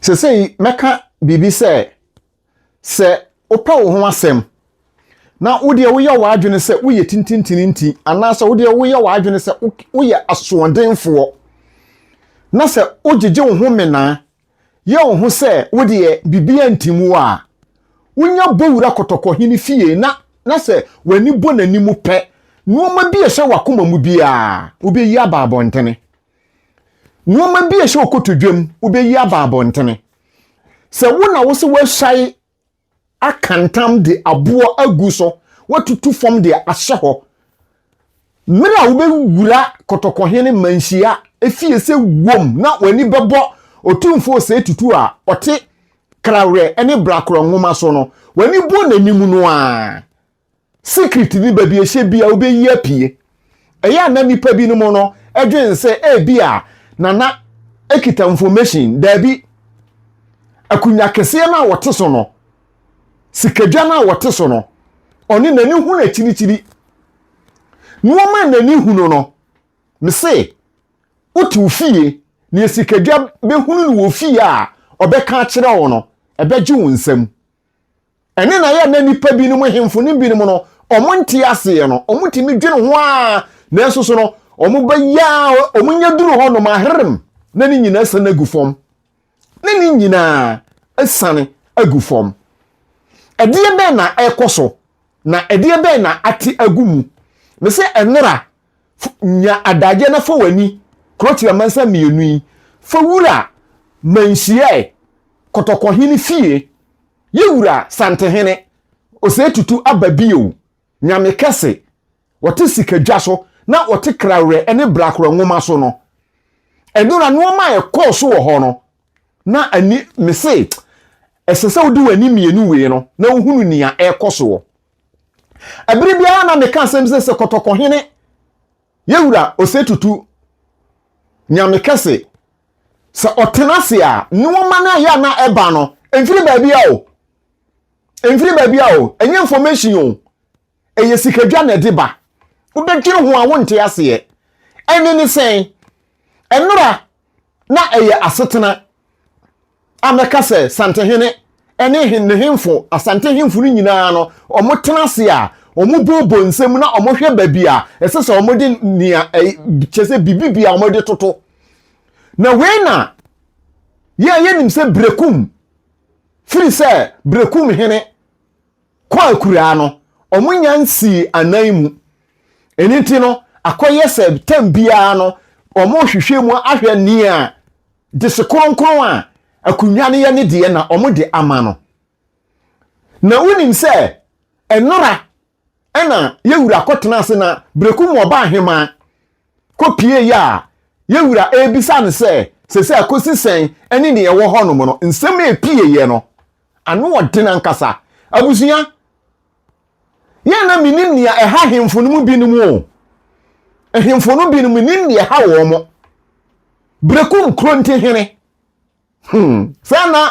Seesei mɛka biribi sɛ, Sɛ wopɛ wo ho asɛm, na wodeɛ woyɛ w'adwene sɛ woyɛ tintintini nti, anaasɛ wodeɛ woyɛ w'adwene sɛ woyɛ asoɔdenfoɔ, na sɛ wogyegye wo ho menaa, yɛ wo ho sɛ wodeɛ biribiara ntim wo a, wonya bɔ wura kɔtɔkɔhene fie na na sɛ w'ani bɔ n'anim pɛ, nnoɔma bi a ɛhyɛ w'akoma mu biara, wobɛyi aba abɔntene. Nnoɔma bi a ɛhyɛ ɔkɔto dwam wobɛyi aba abɔntene. Sɛ wo na wo sɛ woasae aka ntam de aboɔ agu so, woatutu fam de ahyɛ hɔ. Mmerɛ a wobɛwura kɔtɔkɔhene manhyia efie sɛ wom na w'ani bɛbɔ Otumfoɔ Osei Tutu a ɔte Krawerɛ ne Brakora Nwoma so no, w'ani bɔ n'anim no ara. Secret ne baabi a ɛhyɛ bi a wobɛyi apue. Ɛyɛ a na nnipa binom no dwene sɛ ebi a na na ɛkita information. Daabi. Akunnwa keseɛ no a wɔte so no, sikadwa no a wɔte so no, ɔne n'ani hunu akyirikyiri. Nnoɔma a n'ani hunu no, mese, wote wo fie, deɛ sikadwa bɛhunu no wɔ fie a ɔbɛka akyerɛ wo no, ɛbɛgye wo nsam. Ɛne na yɛ na nnipa binom ahemfo no binom no wɔn nte aseɛ no wɔn tumi dwene ho a nanso so no wɔn bɛyɛ a wɔn nyɛ duru hɔ nom aherem na ne nyinaa san agu fam na ne nyinaa asan agu fam ɛdeɛ bɛn na ɛkɔ so na ɛdeɛ bɛn na ate agu mu me sɛ ɛnera nya adagyeɛ na fa w'ani kurotia mansa mmienu yi fa wura manhyiae kɔtɔkɔhene fie Ye wura Santehene, ɔsɛe tutu aba bio, Nyame kɛse, ɔte sika dwa so na ɔte krawerɛ ne brakora nwoma so no. Ɛnora noɔma a ɛkɔɔ so wɔ hɔ no na ani, me se ɛsɛ sɛ wode w'ani mmienu wee no na wohunu nea ɛrekɔ soɔ. Ɛbere biara na meka asɛm sɛ sɛ kɔtɔkɔhene Yewura Osetutu, Nyame kɛse, sɛ ɔtena ase a, nnoɔma no ɛyɛ a na ɛba no, ɛmfiri baabi a o. Ɛmfiri baabi a o. Ɛnyɛ information o. Ɛyɛ sikadwa na ɛde ba. Wobɛdwene ho a wonte aseɛ. Ɛnne ne sɛn? Ɛnora na ɛyɛ asetena a mɛka sɛ Santehene ne ne hemfo, Asante hemfo no nyinaa no, wɔtena ase a wɔbobɔ nsam na wɔhwɛ baabi a ɛsɛ sɛ wɔde nea kyɛ sɛ biribi bi a wɔde toto. Na wei na yɛn yɛnim sɛ Brekum, firi sɛ Brekum hene kɔ akuraa no, wɔn nya nsii anan mu. Ɛno nti no, akɔyɛ sɛ tam biara no, wɔrehwehwɛ mu ahwɛ nea dese kronkron a akonnwa no yɛ ne deɛ na wɔde ama no. Na wonim sɛ ɛnora ɛna yɛwura kɔtena ase na berɛku mu ɔba ahemaa kɔpie yɛ a yɛwura ɛrebisa no sɛ sɛ sɛ akɔsi sɛn ɛne nea ɛwɔ hɔnom no nsɛm a ɛpieeɛ no Ano ɔden ankasa. Abusua, yɛ a na menim nea ɛha ahemfo no mu binom o. Ahemfo no binom menim nea ɛha wɔn mo. Breku Nkronti hene. Hmm, sɛ na,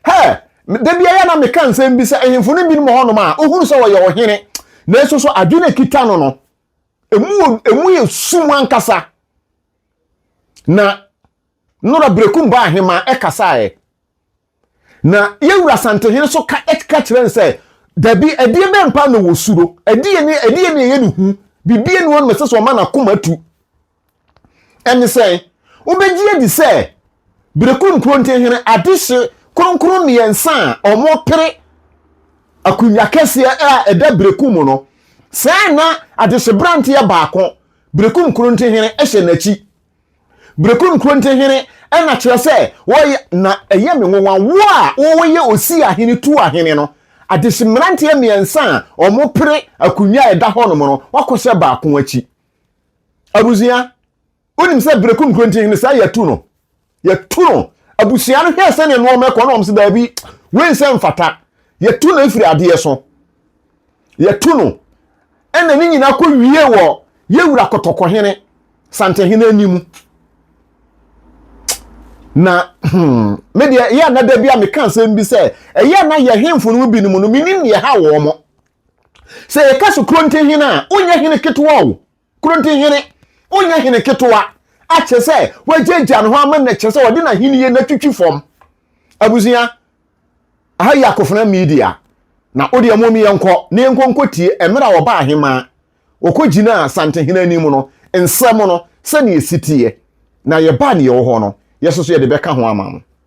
hɛ, da bi ayɛ na meka nsɛm bi sɛ ahemfo no binom wɔ hɔnom a ohunu sɛ wɔyɛ ɔhene, nanso so adwene kita no no, emu, emu yɛ sum ankasa. Na Nora Breku mbaa ahemaa ɛkasaeɛ. Na yɛn wura Asantehene nso ka ka kyerɛ no sɛ, dabi, ɛdeɛ bɛn paa na wɔsuro? Ɛdeɛ ne ɛdeɛ ne ɛyɛ ne hu? Biribi ne hɔ no ɛsɛ sɛ ɔma n'akoma atu. Ɛne sɛ, wobɛgye adi sɛ Berekum Nkurontehene adehye kronkron mmiɛnsa a wɔpere akonnwa kɛseɛ a ɛda Berekum mu no, saa na adehyeberanteɛ baako, Berekum Nkurontehene, hyɛ n'akyi. Berekun Kronte hene ɛna kyerɛ sɛ wɔyɛ na ɛyɛ me nwonwa wo a wɔyɛ osi ahene tu ahene no adehye mmeranteɛ mmiɛnsa a wɔn pere akonwa a ɛda hɔ nom no wakɔ sɛ baako akyi abusua wonim sɛ Berekun Kronte hene saa yɛtu no yɛtu no abusua no hwɛ sɛnea nnoɔma ɛkɔ na wɔn sɛ daabi wei nsɛ mfata yɛtu no efiri adeɛ so yɛto no ɛna ne nyinaa kɔ wie wɔ yɛwura kɔtɔkɔhene santehene anim na hmm, me deɛ ɛyɛ na da bi a meka nsɛm bi sɛ ɛyɛ na yɛ hemfo no mu binom no menim deɛ ha wɔ mo sɛ yɛka so kuro ntehene a wonyɛ hene ketewa o Koro nti hene, wonyɛ hene ketewa akyerɛ sɛ wagyaagyaa ne ho ama na kyerɛ sɛ ɔde n'ahenni na twitwi fam. Abusua, aha yɛ akofena media na wo deɛ mom yɛnkɔ na yɛnkɔ nkɔtie mmerɛ a ɔbaa ahemaa ɔkɔgyinaa Santehene anim no nsɛm no sɛdeɛ ɛsi teɛ na yɛba a deɛ ɛwɔ hɔ no yɛsoso yɛde bɛka ho ama mo.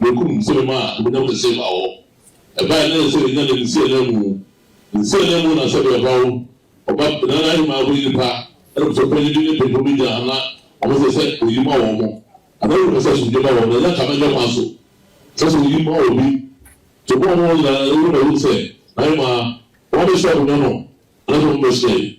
Wokum nsɛm a honyam nsɛm a ɔ ɛbae na ɛsɛ nya ne nsiananmu. Nsiananmu na sɛdeɛ ɔhaw ɔba na n'ahemmaa ho nnipa na mmusuo panyin bi ne mpempem bi gyina ha na ɔmo sɛ sɛ oyi ma wɔn mo anaa ɔmo pɛ sɛ asomdwie ba wɔn mo na ɛnyɛ nka mɛnyɛ kwan so sɛ sɛ oyi ma obi nti ɔmo a ɔmo wɔ nyinaa ɛyɛ ɔmo na ɛwom sɛ n'ahemmaa wɔn abɛhyia honyam no anaasɛ ɔmo mmɛhyia yi.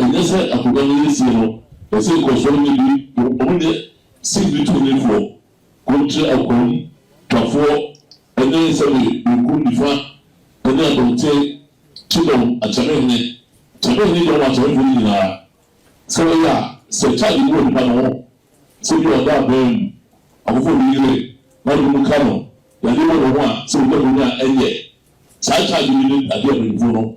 Ɛnyɛ sɛ akonnwa no yɛ sie no, ɛsɛ nkɔsoɔ no bi, wɔnyɛ singbi tonifoɔ, kontre akoom twafoɔ ne sɛbe benkum nifa ne abɔnten kyedɔm akyɛmehene kyɛmehene dɔm akyɛmefoɔ no nyinaa, sɛ wɔyɛ a, sɛ charge bi wɔ nipa no ho, sɛ bi a ɔda abɛn mu, afoforɔ bi yere, na binom ka no, yadeɛ wɔ ne ho a, sɛ wɔnya mu no a, ɛnyɛ saa charge bi ne adeɛ a mpanyinfoɔ no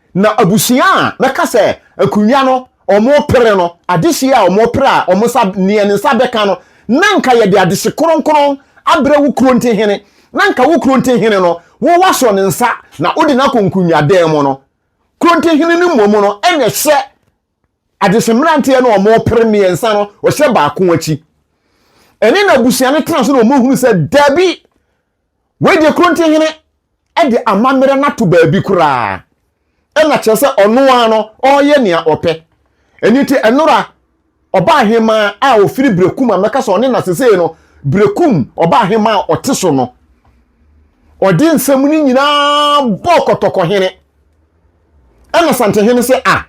Na abusua a bɛka sɛ akonnwa no wɔpere no, adehye a wɔpere a wɔn nsa, nea ne nsa bɛka no, na nka yɛde adehye kronkron abrɛ wo kurontehene, na nka wo kurontehene no, wo woasɔ ne nsa na wode no akɔ nkonnwadan mu no, kurontehene no mmom no na ɛhyɛ Adehye mmeranteɛ no a wɔpere mmiɛnsa no, wɔhyɛ baako akyi. Ɛne n'abusua no tena so na wɔhunu sɛ dabi, wei deɛ Korontihene de amammerɛ no ato baabi koraa. Ɛna kyerɛ sɛ ɔno ara no, ɔreyɛ nea ɔpɛ. Ɛno nti, ɛnora ɔba ahemaa a ɔfiri Berekum a mɛka sɛ ɔne na sesei no, Berekum ɔba ahemaa a ɔte so no, ɔde nsɛm no nyinaa bɔɔ Kɔtɔkɔhene. Ɛna Santehene sɛ, Ah,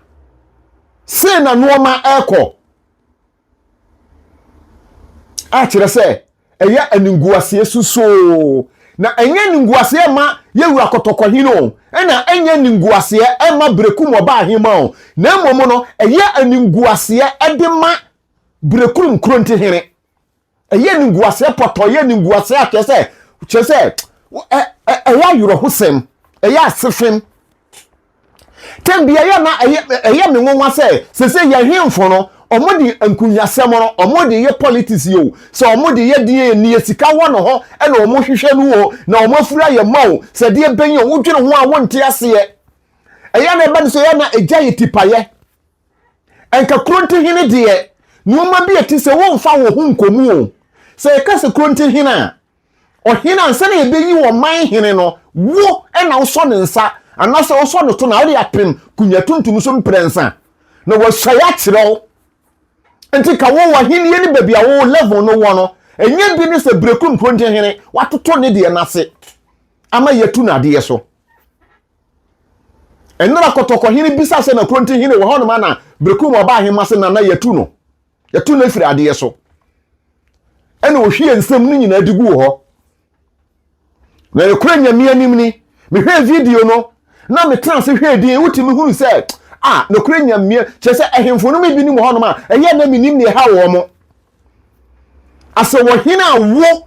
sei na nnoɔma ɛrekɔ. A kyerɛ sɛ, ɛyɛ animguaseɛ susoo. Na ɛnyɛ animguaseɛ ɛma Yɛwura Kɔtɔkɔhene o, ɛna ɛnyɛ animguaseɛ ɛma Berekum Ɔbaa Ahemaa o, na mmom no, ɛyɛ animguaseɛ ɛde ma Berekum Krontihene. ɛyɛ animguaseɛ pɔtɔ ɛyɛ animguaseɛ akyerɛ sɛ kyerɛ sɛ ɛyɛ awerɛhosɛm ɛyɛ asefem tɛm bi ɛyɛ na ɛyɛ ɛyɛ me nwanwa sɛ sese yɛn hemfo no wɔn de nkunyasɛm no wɔn de yɛ politics yi o sɛ wɔn de yɛ deɛ nie sika wɔ ne ho ɛna wɔn hwehwɛ no o na wɔn afura yɛ ma o sɛ deɛ bɛn yɛ wɔn dwene ho a wɔn nte aseɛ ɛyɛ na ɛbɛ no sɛ ɛyɛ na ɛgya yɛ tipayɛ. Ɛnka Kurontehene deɛ, nnoɔma bi a ɛte sɛ womfa wo ho nkɔ mu o. Sɛ yɛka sɛ Kurontehene a, ɔhene ansa na yɛbɛyi ɔman hene no, wo na wosɔ ne nsa anaasɛ wosɔ ne to na wode apem kunya tuntum so mprɛnsa na wahyɛ akyerɛ wo. Nti ka wo w'ahennie ne baabi a wo level no wɔ no, ɛnyɛ bi ne sɛ Berekum Kurontehene, watoto ne deɛ no ase ama yɛatu no adeɛ so. Ɛnora kɔtɔkɔhene bisa sɛ na kuro nti hene wɔ hɔ noma na bereko mu ɔbaa ahema se nana yɛtu no yɛtu no afiri adeɛ so ɛna ɔhwie nsɛm no nyinaa de guu hɔ na yɛkora nyame anim ni mehwɛɛ video no na metena ase hwɛɛ din wotumi hunu sɛ a nokora nyame kyerɛ sɛ ahemfo no bi nim hɔ noma ɛyɛ na menim ne ɛha wɔ mo asɛ wɔhene a wo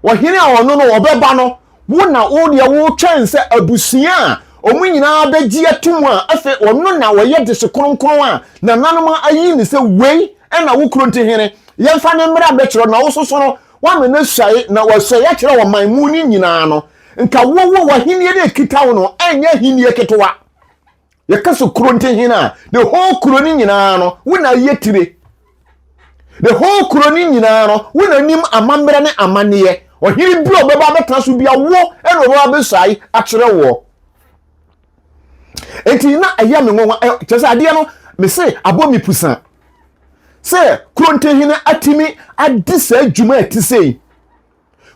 wɔhene a ɔno no ɔbɛba no wo na wo deɛ wotwɛn sɛ abusua a wɔn nyinaa bɛgye atom a afei ɔno na ɔyɛ dese kronkron a nananom ayi ne sɛ wei ɛna wo kuro nti hene yɛmfa ne mmara bɛkyerɛ na wososo no woama no ahyɛe na wɔahyɛe akyerɛ ɔman mu no nyinaa no nka wowo w'ahennie no ɛkita wo no ɛnyɛ ahennie ketewa yɛka so kuro nti hene a the whole kuro no nyinaa no wo na ayɛ tire the whole kuro no nyinaa no wo na nim amammerɛ ne amanneɛ ɔhene bi a ɔbɛba abɛtena so bia wo ɛna ɔbɛba abɛsae akyerɛ woɔ nti na ɛyɛ me nwanwa kyerɛ sɛ adeɛ no me se abɔ me pusa sɛ kuro nti hene atumi adi saa adwuma a ɛte sɛ yi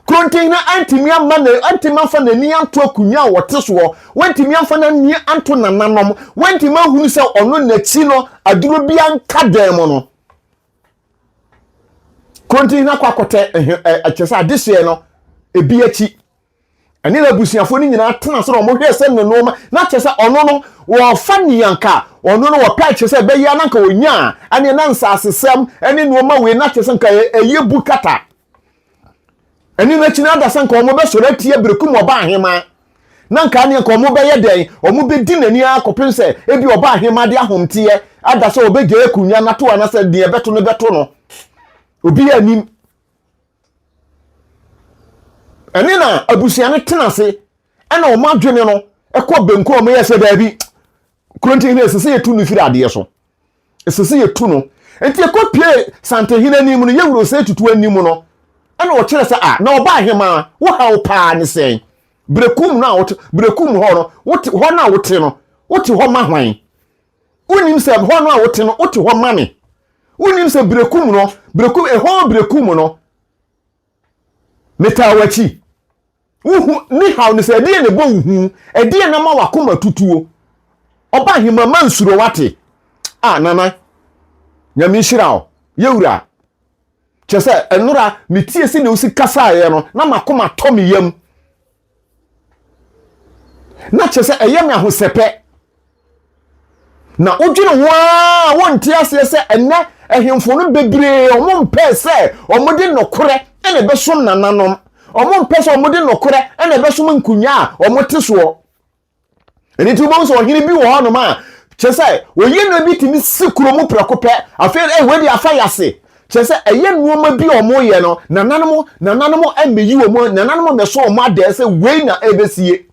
Kuro Ntenhina antumi amma na antumi amfa n'ani anto akonnwa a wɔte soɔ, wantumi amfa n'ani anto nananom, wantumi ahunu sɛ ɔno n'akyi no aduro bi anka dan mu no. Kuro Ntenhina kɔ akɔtɛ ɛkyɛ sɛ adehyeɛ no ebi akyi ɛne n'abusuafoɔ no nyinaa tena sɛ wɔn hwɛ sɛ ne nneɛma na kyɛ sɛ ɔno no wɔfa nea nka ɔno no wɔpɛ kyɛ sɛ ɛbɛyɛ na nka wɔnya ɛne na nsasesɛm ɛne nneɛma wei na kyɛ sɛ nka ɛyɛ bu kata ɛne no akyi no adasa nka wɔn bɛsɔre atia berekum ɔba ahema na nka ne nka wɔn bɛyɛ dɛn wɔn bɛdi n'ani ara kɔpem sɛ ebi ɔba ahema de ahomteɛ ada sɛ ɔbɛgya akunya nato anasɛ deɛ bɛto no bɛto no obi anim ɛne na abusua no tena ase ɛna wɔn adwene no ɛkɔ benkum wɔn yɛ sɛ daabi kurontin hene sɛ sɛ yɛtu no firi adeɛ so ɛsɛ sɛ yɛtu no nti ɛkɔ pie santehene anim no yɛwuro sɛ tutu anim no ɛna ɔkyerɛ sɛ a na ɔba ahemaa wohaw paa ne sɛn berekum no a wote berekum hɔ no wote hɔ no a wote no wote hɔ ma hwan wonim sɛ hɔ no a wote no wote hɔ ma ne wonim sɛ berekum no berekum ɛhɔ berekum no metaa wakyi Wo hu, me haw ne sɛ, ɛdeɛn na ɛbɔ wo hu? Ɛdeɛn na ama w'akoma tutuo? Ɔba ahema ma nsuro wate. Ah Nana, Nyame nhyira wo, yɛ wura. Kyɛ sɛ, ɛnora me tie sɛdeɛ wosi kasaeɛ no, na m'akoma tɔ me yam. Na kyɛ sɛ, ɛyɛ me ahosɛpɛ. na wodwene ho ara wonte aseɛ sɛ ɛnɛ ahemfo no bebree wɔn mpɛɛ sɛ wɔde nɔkorɛ ɛna ɛbɛsom nananom wɔn mpɛ sɛ wɔde nɔkorɛ ɛna ɛbɛsom nkonnwa a wɔn te soɔ ɛne ti wobɛhu sɛ ɔhene bi wɔ hɔ nom a kyerɛ sɛ wɔyɛ nneɛma bi tumi si kuro mu prɛko pɛ afei ɛyɛ wɔde afa yase kyerɛ sɛ ɛyɛ nneɛma bi a wɔyɛ no nananom nananom ɛmɛyi wɔn nananom ɛmɛso wɔn adɛɛ sɛ wei na ɛbɛsie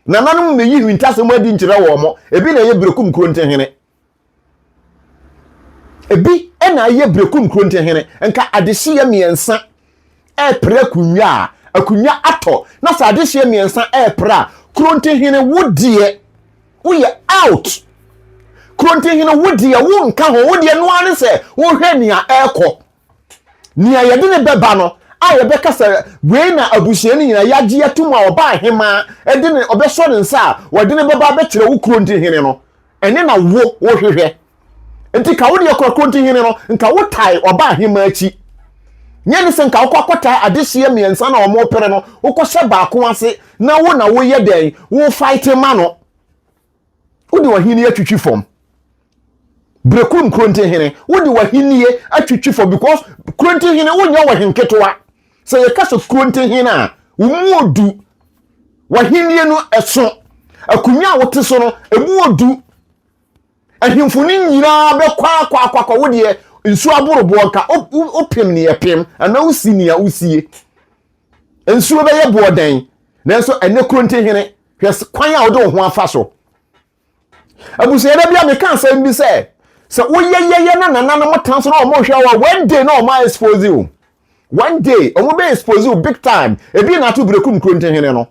Nananom na eyi nhintasɛm adi nkyerɛ wɔn. Ebi na ɛyɛ Berekum Kurontehene. Ebi na ɛyɛ Berekum Kurontehene. Nka adehyeɛ mmiɛnsa repere akonnwa a akonnwa atɔ na sɛ adehyeɛ mmiɛnsa repere a Kurontehene wo deɛ woyɛ out. Kurontehene wo deɛ wonka ho wo deɛ noa ne sɛ wohwɛ nea ɛrekɔ. nea yɛde no bɛba no a yɛbɛka sɛ wei na abusua no nyinaa yɛagye atom a ɔba ahemaa ɛde ne ɔbɛsɔ ne nsa a wɔde no bɛba abɛkyerɛ wo kuro nti hene no ɛne na wo wohwehwɛ nti ka wo deɛ kora kuro nti hene no nka wo tae ɔba ahemaa akyi nyɛ ne sɛ nka wokɔ akɔtaa adehyeɛ mmiɛnsa na wɔn pere no wokɔhyɛ baako ase na wo na woyɛ dɛn wo fight ma no wode w'ahenni atwitwi fam berekurum kurontehene wode w'ahenni atwitwi fam because kurontehene wonyɛ wɔ henketewa sɛ yɛka sɛ kurontehene a wo mu odu w'ahenni no ɛso akonnwa a wote so no ɛmu odu ahemfo no nyinaa bɛkɔ akɔ akɔ akɔ wo deɛ nsuo aboroboɔ nka wopem ne yɛpem anaa wosi nea wosie nsuo bɛyɛ boɔ dɛn nanso ɛnɛ kurontehene hwɛ kwan a wode wo ho afa so abusua da bi a meka asɛm bi sɛ sɛ woyɛyɛyɛ na nananom tan so na wɔn hwɛ wɔ one day na wɔn expose you one day wɔn bɛ expose you big time ebi na ato bireku nkuro ntɛhene no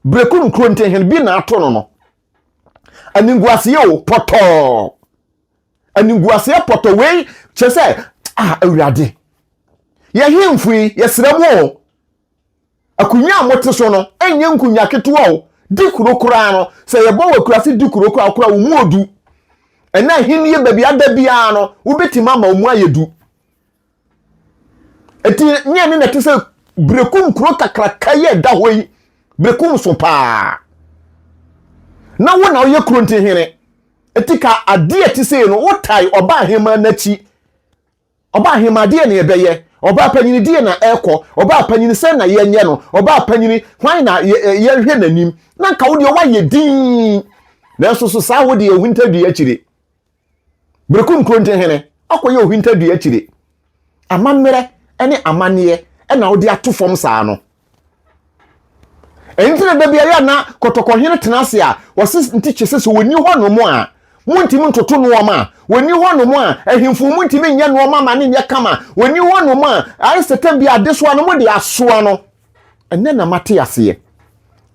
bireku nkuro ntɛhene bi na ato no no aninguaseɛ o pɔtɔɔ aninguaseɛ pɔtɔ wei kyɛ sɛ ah awurade yɛhemfo yi yɛsrɛ mu o Akonnwa a mote so no nyɛ nkonnwa ketewa o. Di kuro koraa no, sɛ yɛbɔ wɔ akuraase di kuro koraa koraa, wɔn mu odu. Ɛnna ahenni baabi ada biara no, wobɛtumi ama wɔn mu ayɛ du. Eti nyɛ ne na ɛte sɛ berekum kuro kakraka yi a ɛda hɔ yi. Berekum so paa. Na wo na woyɛ kuro nti hene. Eti ka adeɛ ɛte sɛ no, wotae ɔba ahemmaa n'akyi. Ɔbaa hemaa deɛn na yɛbɛyɛ? Ɔbaa panyini deɛn na ɛrekɔ? Ɔbaa panyini sɛn na yɛnyɛ no? Ɔbaa panyini hwan na yɛnhwɛ n'anim? Na nka wo deɛ woayɛ dinn, nanso so saa wo deɛ ohintadua akyire? Berekum Kurontenhene, woakɔyɛ ohintadua akyire? Amammerɛ ne amanneɛ na wode ato fam saa no? ɛnti na da bi ayɛ na kɔtɔkɔhene tena ase a wɔse ntikye sɛ sɛ wɔni hɔ nom a montimi ntoto nnoɔma a wɔni hɔ nom a ahemfo montimi nyɛ nnoɔma ma ne nyɛ kama wɔni hɔ nom a ayɛ sɛ tam bi adesoa no mode asoa no ɛnɛ na mate aseɛ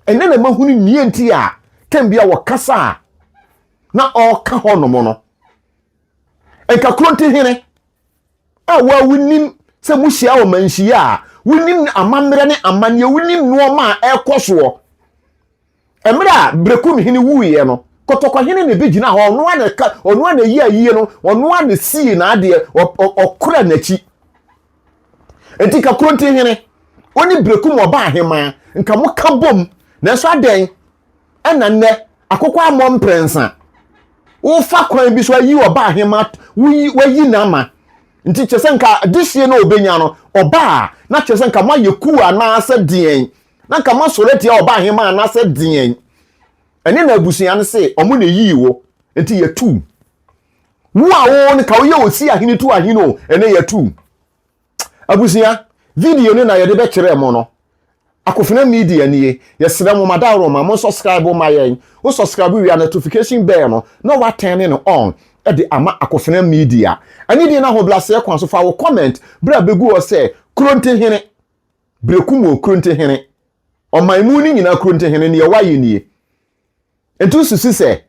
ɛnɛ na mahunu nea nti a tam bi a wɔkasa a na ɔka hɔ nom no nka kuro nti hene A wo a wunim sɛ muhyia ɔmanhyia a, wunim amammerɛ ne amanneɛ, wunim nneɛma a ɛrekɔ soɔ. Mmerɛ a Berekum hene wuiɛ no, Kɔtɔkɔ hene na ɛbɛgyina hɔ, ɔno a na ɛka, ɔno a na ɛyi ayie no, ɔno a na sii n'adeɛ, ɔkora n'akyi. Enti ka Kronti hene, wo ne Berekum ɔba ahemaa, nka moka bom, nanso adɛn ɛna nnɛ akokɔ ammɔ mprɛnsa. Wofa kwan bi so ayi ɔba ahema, woyi wayi n'ama. Nti kyerɛ sɛ nka desie na ɔbɛnya no ɔba a, na kyerɛ sɛ nka moayɛ kuu anaasɛ deɛn, na nka moasɔre atia ɔba ahema anaasɛ deɛn. Ɛne na abusua no se ɔmo na ɛyii wo, nti yɛtu wo. Wo a wo ne ka woyɛ osi ahene tu ahene o, ɛnɛ yɛtu wo. Abusua, video no na yɛde bɛkyerɛ mo no. Akofena Media nie. Yɛsrɛ mo ma daworo ma mo nsɔskraibo ma yɛn. Wo sɔskraibo wie a nɔtofikahyin bɛɛ no na woatɛne no ɔn de ama Akofena Media. Anidie ne ahobraseɛ kwan so fa wo kɔmɛnt berɛ a bɛgu hɔ sɛ Krontehene, Berekumo Krontehene, Ɔmanmu no nyinaa Krontehene, neɛ woayɛ nie. Nti wosusu sɛ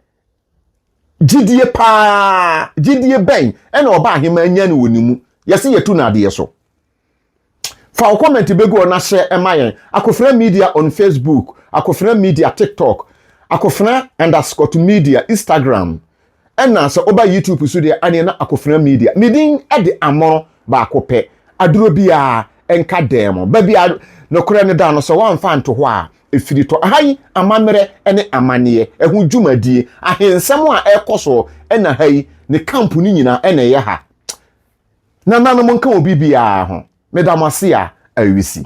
gyidie paa, gyidie bɛn ɛna ɔba aheman nya no wɔ ne mu. Yɛse yɛtu no adeɛ so. Fa wo comment bɛgu hɔ na hyɛ ɛma yɛn. Akofena Media on Facebook, Akofena Media TikTok, Akofena underscore media Instagram, Ɛna sɛ woba YouTube so deɛ ɛneɛ na Akofena Media ne din de amono baako pɛ aduro biara nka dan mu. Baabi a nokorɛ no da no sɛ woamfa anto hɔ a ɛfiri tɔ. Aha yi amammerɛ ne amanneɛ, ɛho dwumadie, ahensɛm a ɛrekɔ soɔ na ha yi ne camp no nyinaa na ɛyɛ ha. Nananom nka wɔ biribiara ho. Meda mo ase a awisii.